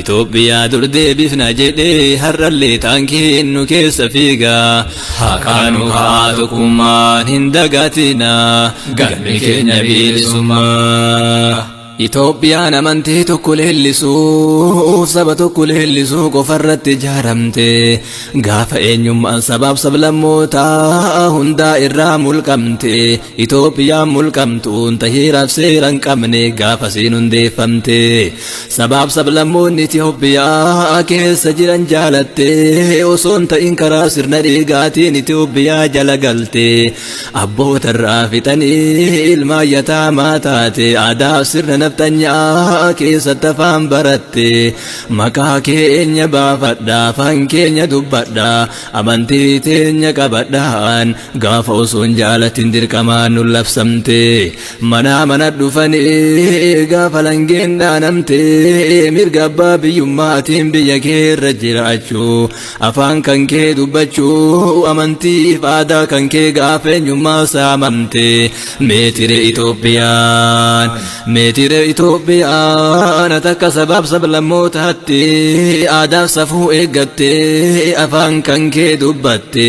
Itoophiyaa dur deebifna jedhee har'allee taankiin nu keessa fiiga. Haqaa nu ka'aa tokkummaan hin dagatina galmi keenya bilisummaa. Itoophiyaan amantii tokko leellisuu saba tokko leellisuu qofarratti ijaaramte gaafa eenyummaan sabaaf sablammootaa hundaa irraa mulqamte Itoophiyaan mulqamtuun tahiiraaf seera hin qabne gaafasiin hundeeffamte. sabaaf sablammoonni Itoophiyaa keessa jiran jaalattee osoo hin ta'in karaa sirna dhiigaatiin Itoophiyaa jala galte abboota irraa fixanii ilmaan yataamaa taate aadaaf sirna nafxanyaa keessatti afaan baratte maqaa keenya baafadha afaan keenya dubbadha amantii teenya qabadhaan gaafa osoo hin jaalatin dirqamaan nu labsamte Manaa mana dhufanii gaafa langeen dhaanamtee mirga abbaa biyyummaatiin biyya kee irra jiraachuu afaan kan kee dubbachuu amantiif aadaa kan kee gaafa eenyummaa saamamte meetire Itoophiyaan meetire Itoophiyaan takka sabaaf sablammootaatti aadaaf safuu eeggattee afaan kan kee dubbatte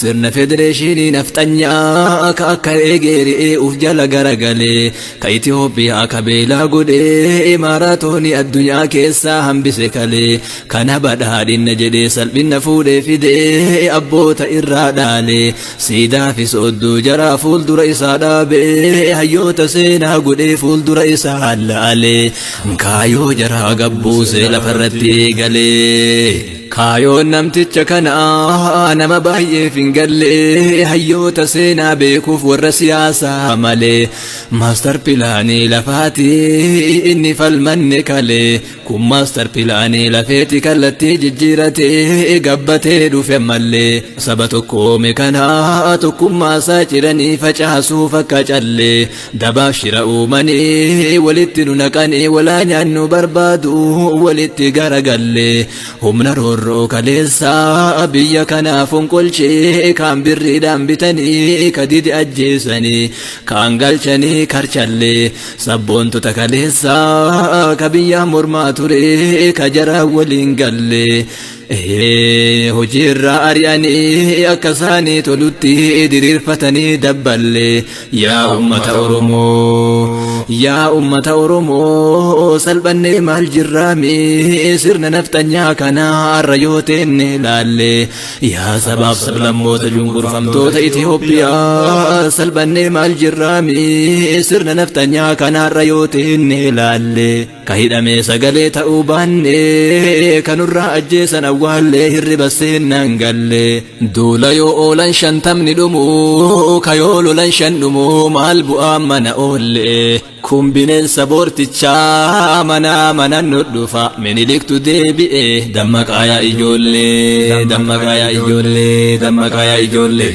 Sirna federeeshinii nafxanyaa ka akka eegee re'ee uf jala garagalee ka Itoophiyaa ka beelaa godhee imaaraatooni addunyaa keessaa hambise kalee kana badhaadhinna jedhee salphinna fuudhee fidee abboota irraa dhaalee siidaa fi soodduu jaraa fuuldura isaa dhaabee hayyoota seenaa godhee fuuldura isaa laalee kaayoo jaraa gabbuusee lafarratti eegalee. Kaayoon namticha kanaa nama baay'eef hin galle hayyoota seenaa beekuuf warra siyaasaa malee maastar pilaanii lafaati inni falmanne kalee kun maastar pilaanii lafeeti kallattii jijjiiratee gabbatee dhufe mallee saba tokkoome kanaa tokkummaa isaa ciranii facaasuuf akka callee Dabaaf shira uumanii walitti nu naqanii walaa nyaannu barbaadu walitti garagalle humna roorroo kaleessaa biyya kanaa fonqolchee kaan birriidhaan bitanii ka dide ajjeesanii kaan galchanii karchalle sabboontota kaleessaa ka biyyaa mormaa ture ka jaraa waliin galle Ee hojii irraa ari'anii akka isaanii tolutti diriirfatanii dabballe yaa ummata Oromoo yaa ummata Oromoo salphannee maal jirraami sirna nafxanyaa kana har'a yoo teenne laalle yaa sabaaf sablammoota cunqurfamtoota Itoophiyaa salphannee maal jirraami sirna nafxanyaa kana har'a yoo teenne laalle. Ka hidhamee sagalee ta'uu baannee Ka nurraa ajjeesan awwaallee Hirriba seennaan galle Duula yoo oolan shantamni dhumu Ka yoo lolan shan dhumu Maal bu'aa mana oolle Kun bineensa boortichaa Manaa mana nu dhufa Miniliktu deebi'e Dammaqaa yaa ijoollee Dammaqaa yaa ijoollee Dammaqaa yaa ijoollee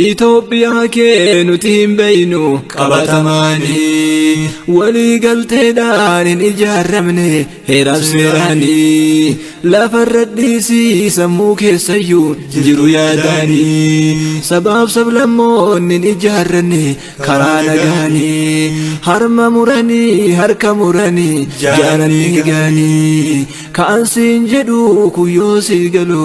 Itoophiyaa kee nuti hin beeynu qabatamaanii walii galteedhaan hin ijaaramne heeraaf seeraanii lafarra dhiisii sammuu keessayyuu jiru yaadaanii sabaaf sablammoonni hin ijaaranne karaa nagaanii harma muranii harka muranii jaaranii gaanii ka'an siin jedhu kuyyoo sii galu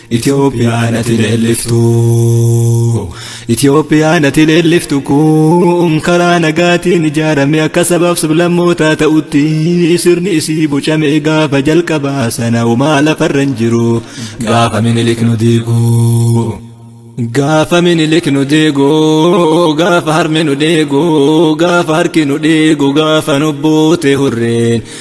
Itoophiyaan ati leelliftu Itoophiyaan ati leelliftu kun karaa nagaatiin ijaarame akka sabaaf sablammootaa ta'utti sirni isii bocame gaafa jalqabaa sana homaa lafarra hin jiru gaafa minilik nu diigu. Gaafa minilik nu deego gaafa harmi nu deego gaafa harki nu deego gaafa nu boote hurreen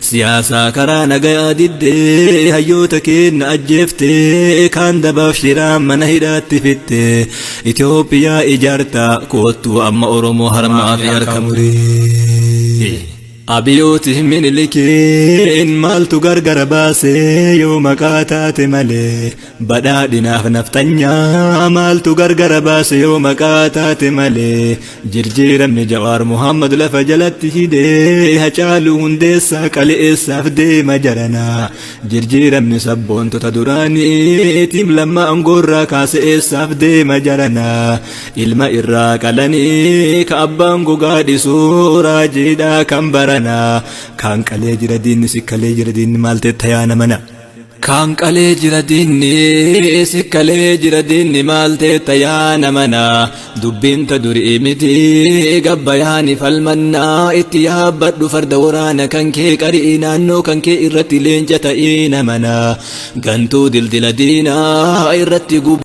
Siyaasaa karaa nagayaa diddee hayyoota keenna ajjeeftee kaan dabaaf shiraan mana hidhaatti fittee Itoophiyaa ijaartaa koottuu amma Oromoo harmaa fi harka muree. Abiyooti minilikiin maaltu gargara baasee yoo maqaa taate malee badhaadhinaaf naftanyaa maaltu gargara baase yoo maqaa taate malee Jirjiiramni Jawaar Muhammad lafa jalatti hide Hacaaluu Hundeessaa qale'eessaaf deema jarana. Jirjiiramni sabboontota duraanii tiim lamma angoorraa kaase'eessaaf deema jarana. Ilma irraa qalanii ka abbaan gogaa dhisu raajiidhaa kan barana. Kaan qalee jira diinni si kalee jira diinni maal teetta yaa namana. Kaan qalee jira diinni si kalee jira diinni maal teetta yaa namana dubbiin ta durii miti gabbayaani falmannaa itti yaabbadhu farda waraana kan kee qari'ii naannoo kan kee irratti leenca ta'ii namana gantuu dildila diinaa irratti gubu.